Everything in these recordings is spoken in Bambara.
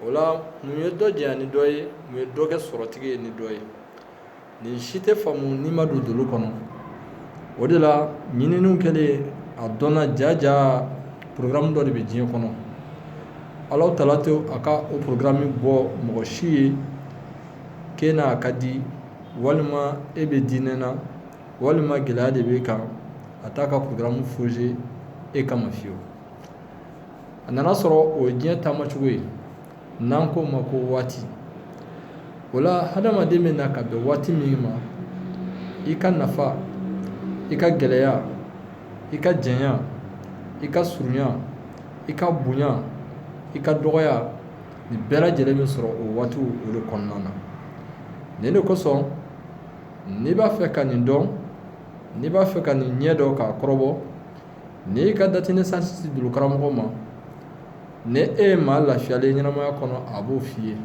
o la mun ye dɔ janya ni dɔ ye mun ye dɔ kɛ sɔrɔtigi ye ni dɔ ye nin si tɛ faamu n'i ma don dolo kɔnɔ o de la ɲininiw kɛlen a dɔnna jaja programme dɔ de bɛ diɲɛ kɔnɔ alahu taala tɛ a ka o programme bɔ mɔgɔ si ye k'e n'a ka di walima e bɛ diinɛ na walima gɛlɛya de b'e kan a t'a ka programme forger e kama fiyewu a nana sɔrɔ o ye diɲɛ taamacogo ye n'an k'o ma ko waati o la hadamaden bɛ na ka bɛn waati min ma i ka nafa i ka gɛlɛya i ka janya i ka surunya i ka bonya i ka dɔgɔya nin bɛɛ lajɛlen bɛ sɔrɔ o waatiw o de kɔnɔna na nin de kosɔn n'i b'a fɛ ka nin dɔn n'i b'a fɛ ka nin ɲɛ dɔn k'a kɔrɔbɔ n'i y'i ka date de naissance di dolo karamɔgɔ ma ni e ye maa lafiyalen ɲɛnamaya kɔnɔ a b'o f'i ye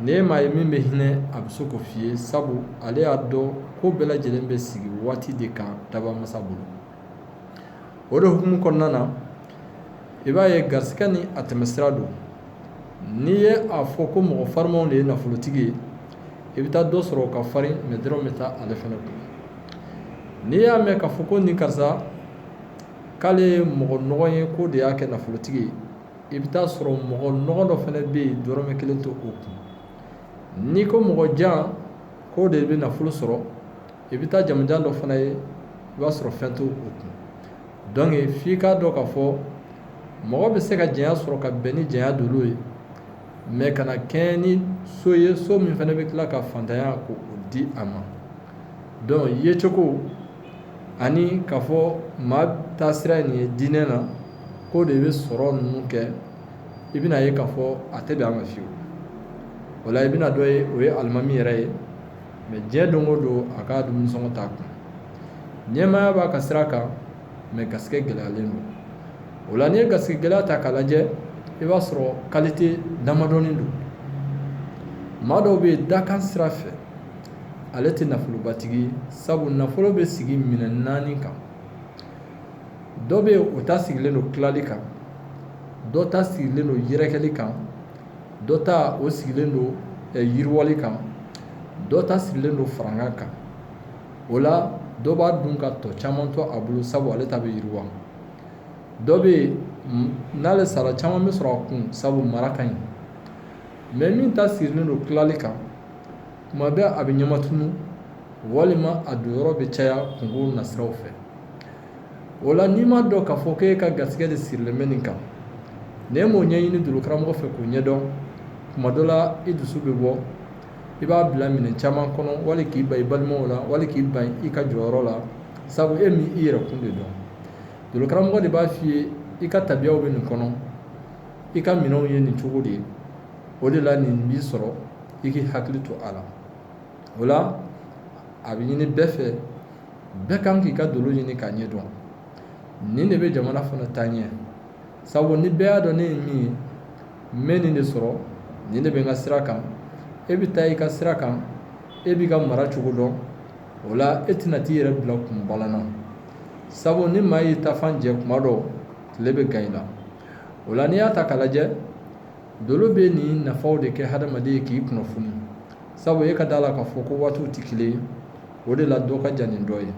ni e maa ye min bɛ hinɛ a bɛ se k'o f'i ye sabu ale y'a dɔn ko bɛɛ lajɛlen bɛ sigi waati de kan dabaa masa bolo o de hukumu kɔnɔna na i b'a ye garisɛgɛ ni a tɛmɛsira don n'i ye a fɔ ko mɔgɔ farimanw de ye nafolotigi ye i bɛ taa dɔ sɔrɔ o ka farin mɛ dɔrɔmɛ tɛ ale fana kun n'i y'a mɛn k'a fɔ ko nin karisa k'ale ye mɔgɔ nɔgɔ ye k'o de y'a kɛ nafolotigi ye i bɛ t'a sɔrɔ mɔgɔ nɔgɔ dɔ fana bɛ yen dɔrɔmɛ kelen t'o kun n'i ko mɔgɔ jan k'o de bɛ nafolo sɔrɔ i bɛ taa jamanjan dɔ fana ye i b'a sɔrɔ fɛn t'o kun dɔnke f'i k'a dɔn k'a fɔ mɔgɔ bɛ se ka janya sɔrɔ ka bɛn ni janya dolo ye mɛ kana kɛɲɛ ni so ye so min fana bɛ tila ka fantanya k'o di a ma donc yecogo ani k'a fɔ maa taasira ye nin ye diinɛ na k'o de bɛ sɔrɔ ninnu kɛ i bɛna ye k'a fɔ a tɛ bɛn a ma fiyewu o la i bɛna dɔ ye o ye alimami yɛrɛ ye mɛ diɲɛ don o don a ka dumunisɔngɔ t'a kun ɲɛmaaya b'a ka sira kan mɛ garisɛgɛ gɛlɛyalen don o la n'i ye garisɛgɛ gɛlɛya ta k'a lajɛ i b'a sɔrɔ kalite damadɔnin don maa dɔw bɛ yen dakan sira fɛ ale tɛ nafolobatigi ye sabu nafolo bɛ sigi minɛ naani kan dɔ bɛ yen o ta sigilen don tilali kan dɔ ta sigilen don yɛrɛkɛli kan dɔ ta o sigilen don yiriwali kan dɔ ta sigilen don farankan kan o la dɔ b'a dun ka tɔ caman to a bolo sabu ale ta bɛ yiriwa dɔ bɛ yen n'ale sara caman bɛ sɔrɔ a kun sabu mara ka ɲi mɛ min ta sirilen don tilali kan tuma bɛɛ a bɛ ɲɛma tunu walima a don yɔrɔ bɛ caya kungo nasiraw fɛ o la n'i ma dɔn k'a fɔ k'e ka garisɛgɛ de sirilen bɛ nin kan n'e m'o ɲɛɲini dolokaramɔgɔ fɛ k'o ɲɛdɔn tuma dɔ la i dusu bɛ bɔ i b'a bila minɛ caman kɔnɔ wali k'i ban i balimaw la wali k'i ban i ka jɔyɔrɔ la sabu e m'i yɛrɛ kun de dɔn dolokaramɔgɔ de b'a f'i ye i ka tabiyaw bɛ nin kɔnɔ i ka minɛnw ye nin cogo de ye o de la nin b'i sɔrɔ i k'i hakili to a la o la a bɛ ɲini bɛɛ fɛ bɛɛ kan k'i ka dolo ɲini k'a ɲɛ dɔn nin de bɛ jamana fana taa ɲɛ sabu ni bɛɛ y'a dɔn ne ye min ye n bɛ nin de sɔrɔ nin de bɛ n ka sira kan e bɛ taa i ka sira kan e b'i ka mara cogo dɔn o la e tɛna t'i yɛrɛ bila kunbalan na sabu ni maa y'i tafan jɛ kuma dɔ tile bɛ gan i la o la n'i y'a ta k'a lajɛ dolo bɛ nin nafaw de kɛ hadamaden ye k'i kunnafoni sabu e ka d'a la k'a fɔ ko waatiw tɛ kelen ye o de la dɔ ka jan ni dɔ ye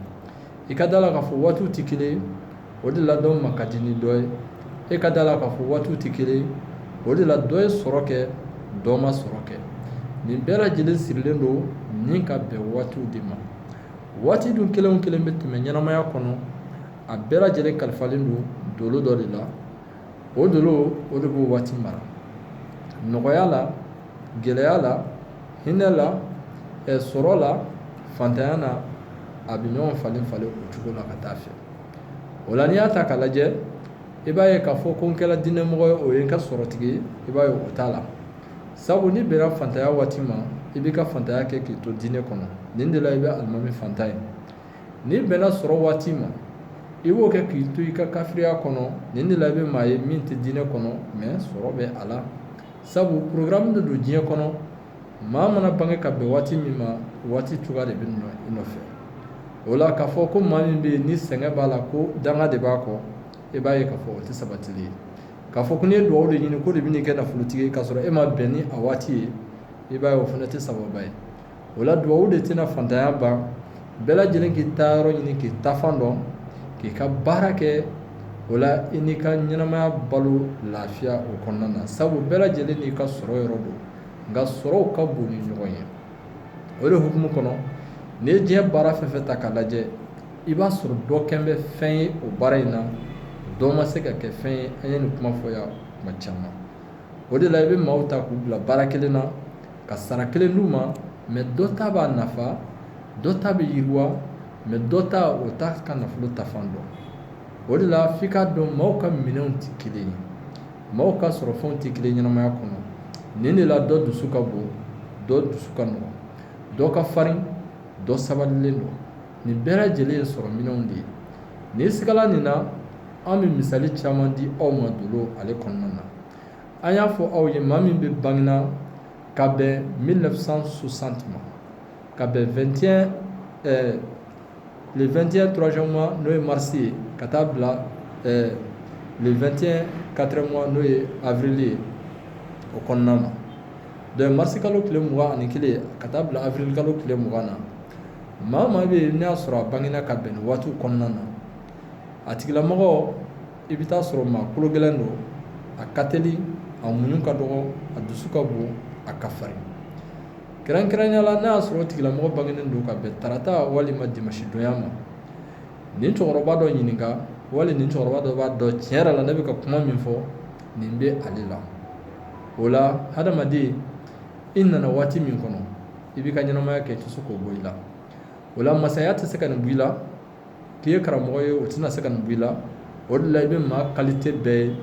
i ka da la k'a fɔ waatiw tɛ kelen ye o de la dɔ ma ka di ni dɔ ye e ka da la k'a fɔ waatiw tɛ kelen ye o de la dɔ ye sɔrɔ kɛ dɔ ma sɔrɔ kɛ nin bɛɛ lajɛlen sirilen don ni ka bɛn waatiw de ma waati dun kelen o kelen bɛ tɛmɛ ɲɛnamaya kɔnɔ a bɛɛ lajɛlen kalifalen don dolo dɔ de la o dolo o de b'o waati mara nɔgɔya la gɛlɛya la hinɛ la sɔrɔ la fantanya na a bɛ ɲɔgɔn falen falen o cogo la ka taa fɛ o la n'i y'a ta k'a lajɛ i b'a ye k'a fɔ ko n kɛra diinɛmɔgɔ ye o ye n ka sɔrɔtigi ye i b'a ye o t'a la sabu n'i bɛnna fantanya waati ma i b'i ka fantanya kɛ k'i to diinɛ kɔnɔ nin de la i bɛ alimami fantan ye n'i bɛnna sɔrɔ waati ma i b'o kɛ k'i to i ka kafiriya kɔnɔ nin de la i bɛ maa ye min tɛ diinɛ kɔnɔ mɛ sɔrɔ bɛ a la sabu porogramu de don diɲɛ kɔnɔ maa mana bange ka bɛn waati min ma waati cogoya de bɛ i nɔfɛ o la k'a fɔ ko maa min bɛ yen ni sɛgɛn b'a la ko danga de b'a kɔ i b'a ye k'a fɔ o tɛ sabatili ye k'a fɔ ko n'i ye duwawu de ɲini k'o de bɛn'i kɛ nafolotigi ye k'a sɔrɔ e ma bɛn ni a waati ye i b'a ye o fana tɛ sababa ye o la duwawu de tɛna fantanya ban bɛɛ lajɛlen k'i ta yɔrɔ ɲini k'i tafan dɔn k'i ka baara kɛ o la i n'i ka ɲɛnamaya balo lafiya o kɔnɔna na sabu bɛɛ lajɛlen n'i ka sɔrɔ yɔrɔ don nka sɔrɔw ka bon ni ɲɔgɔn ye o de hukumu kɔnɔ n'i ye diɲɛ baara fɛn fɛn ta k'a lajɛ i b'a sɔrɔ dɔ kɛn bɛ fɛn ye o baara in na dɔ ma se ka kɛ fɛn ye an ye nin kuma fɔ yan kuma caman o de la i bɛ maaw ta k'u bila baara kelen na ka sara kelen d'u ma mais dɔ ta b'a nafa dɔ ta bɛ yiriwa mais dɔ ta o t'a ka nafolo taafan dɔn o de la f'i k'a dɔn maaw ka minɛnw tɛ kelen ye maaw ka sɔrɔfɛnw tɛ kelen ɲɛnamaya kɔnɔ nin de la dɔ dusu ka bon dɔ dusu ka nɔgɔn dɔ ka farin dɔ sabalilen don nin bɛɛ lajɛlen ye sɔrɔ minɛnw de ye n'i sigala nin na an bɛ misali caman di aw ma dolo ale kɔnɔna na an y'a fɔ aw ye maa min bɛ bangena ka bɛn 1960 ma ka bɛn 21 ɛɛ le 21 troisième mois n'o ye mars ye ka taa bila ɛɛ le 21 quatrième mois n'o ye avril ye o kɔnɔna na donc mars kalo tile mugan ani kelen ka taa bila avril kalo tile mugan na maa maa bɛ yen n'a y'a sɔrɔ a bangena ka bɛn nin waatiw kɔnɔna na a tigilamɔgɔ i bɛ t'a sɔrɔ maa kolo gɛlɛn don a ka teli a muɲu ka dɔgɔ a dusu ka bon a ka farin kɛrɛnkɛrɛnya la n'a y'a sɔrɔ o tigilamɔgɔ bangenen don ka bɛn tarata walima dimanche donya ma nin cɛkɔrɔba dɔ ɲininka wali nin cɛkɔrɔba dɔ b'a dɔn tiɲɛ yɛrɛ la ne bɛ ka kuma min fɔ nin bɛ ale la o la hadamaden i nana waati min kɔnɔ i b'i ka ɲɛnamaya kɛ i tɛ se k'o bɔ i la o la masaya tɛ se ka nin bɔ i la k'i ye karamɔgɔ ye o tɛna se ka nin bɔ i la o de la i bɛ maa qualité bɛɛ ye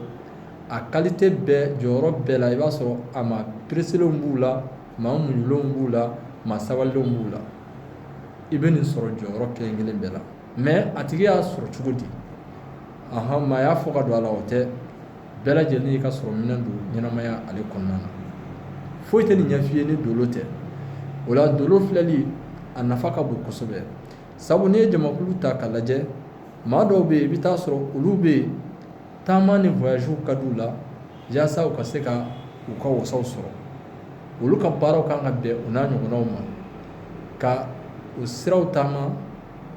a qualité bɛɛ jɔyɔrɔ bɛɛ la i b'a sɔrɔ a maa pereselenw b'u la maa muɲulenw b'u la maa sabalilenw b'u la i bɛ nin sɔrɔ jɔyɔrɔ kelen kelen bɛɛ la mais a tigi y'a sɔrɔ cogo di ahan maa y'a fɔ ka don a la o tɛ bɛɛ lajɛlen y'i ka sɔrɔ minɛn don ɲɛnamaya ale kɔnɔna na foyi tɛ nin ɲɛf'i ye ni dolo tɛ o la dolo filɛli a nafa ka bon kosɛbɛ sabu n'i ye jamakulu ta k'a lajɛ maa dɔw bɛ yen i bɛ t'a sɔrɔ olu bɛ yen taama ni voyagew ka d'u la yaasa u ka se ka u ka wasaw sɔrɔ olu ka baaraw kan ka bɛn u n'a ɲɔgɔnnaw ma ka o siraw taama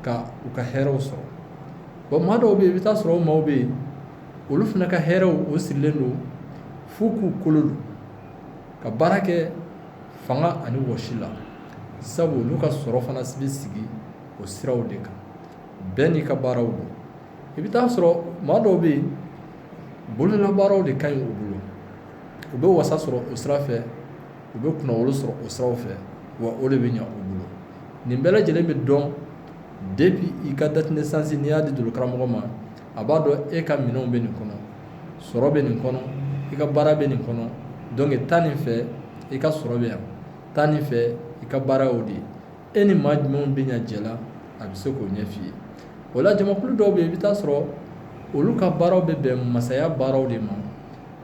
ka u ka hɛrɛw sɔrɔ bon maa dɔw bɛ yen i bɛ t'a sɔrɔ o maaw bɛ yen olu fana ka hɛrɛw o sirilen don f'u k'u kolo don ka baara kɛ fanga ani wɔsi la sabu olu ka sɔrɔ fana bɛ sigi o siraw de kan bɛɛ n'i ka baaraw don i bɛ t'a sɔrɔ maa dɔw bɛ yen bololabaaraw de ka ɲi u bolo u bɛ wasa sɔrɔ o sira fɛ u bɛ kunnawolo sɔrɔ o siraw fɛ wa o de bɛ ɲɛ u bolo nin bɛɛ lajɛlen bɛ dɔn depuis i ka date de naissance n'i y'a di dolokaramɔgɔ ma a b'a dɔn e ka minɛnw bɛ nin kɔnɔ sɔrɔ bɛ nin kɔnɔ i ka baara bɛ nin kɔnɔ donc taa nin fɛ i ka sɔrɔ bɛ yan taa nin fɛ i ka baara y'o de ye e ni maa jumɛnw bɛ ɲɛ jɛ la a bɛ se k'o ɲɛf'i ye o la jamakulu dɔw bɛ yen i bɛ t'a sɔrɔ olu ka baaraw bɛ bɛn masaya baaraw de ma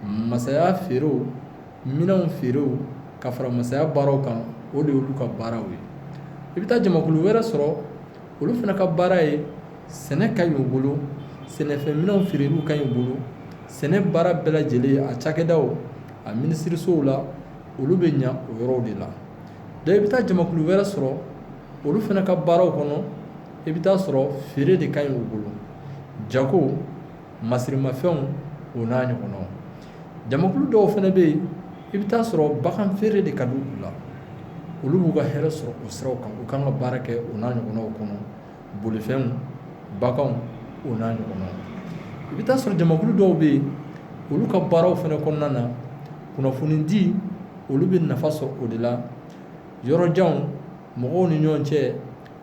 masaya feerew minɛnw feerew ka fara masaya baaraw kan o de y'olu ka baaraw ye i bɛ taa jamakulu wɛrɛ sɔrɔ olu fana ka baara ye sɛnɛ ka ɲi u bolo sɛnɛfɛn minɛnw feereliw ka ɲi u bolo sɛnɛ baara bɛɛ lajɛlen a cakɛdaw a minisirisow la olu bɛ ɲɛ o yɔrɔw de la donc i bɛ taa jamakulu wɛrɛ sɔrɔ olu fana ka baaraw kɔnɔ i bɛ t'a sɔrɔ feere de ka ɲi u bolo jago masirimafɛnw o n'a ɲɔgɔnnaw jamakulu dɔw fana bɛ yen i bɛ t'a sɔrɔ bagan feere de ka di u la olu b'u ka hɛrɛ sɔrɔ o siraw kan u kan ka baara kɛ o n'a ɲɔgɔnnaw kɔnɔ bolifɛnw baganw o n'a ɲɔgɔnna i bɛ t'a sɔrɔ jamakulu dɔw bɛ yen olu ka baaraw fana kɔnɔna na kunnafonidi olu bɛ nafa sɔrɔ o de la yɔrɔjanw mɔgɔw ni ɲɔgɔn cɛ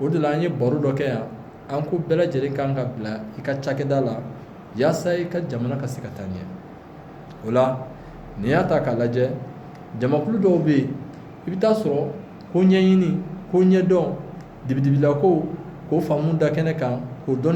o de la an ye baro dɔ kɛ yan an ko bɛɛ lajɛlen kan ka bila i ka cakɛda la yaasa i ka jamana ka se ka taa ɲɛ o la n'i y'a ta k'a lajɛ jamakulu dɔw bɛ yen i bɛ t'a sɔrɔ ko ɲɛɲini ko ɲɛdɔn dibidibilakow k'o faamu da kɛnɛ kan k'o dɔnni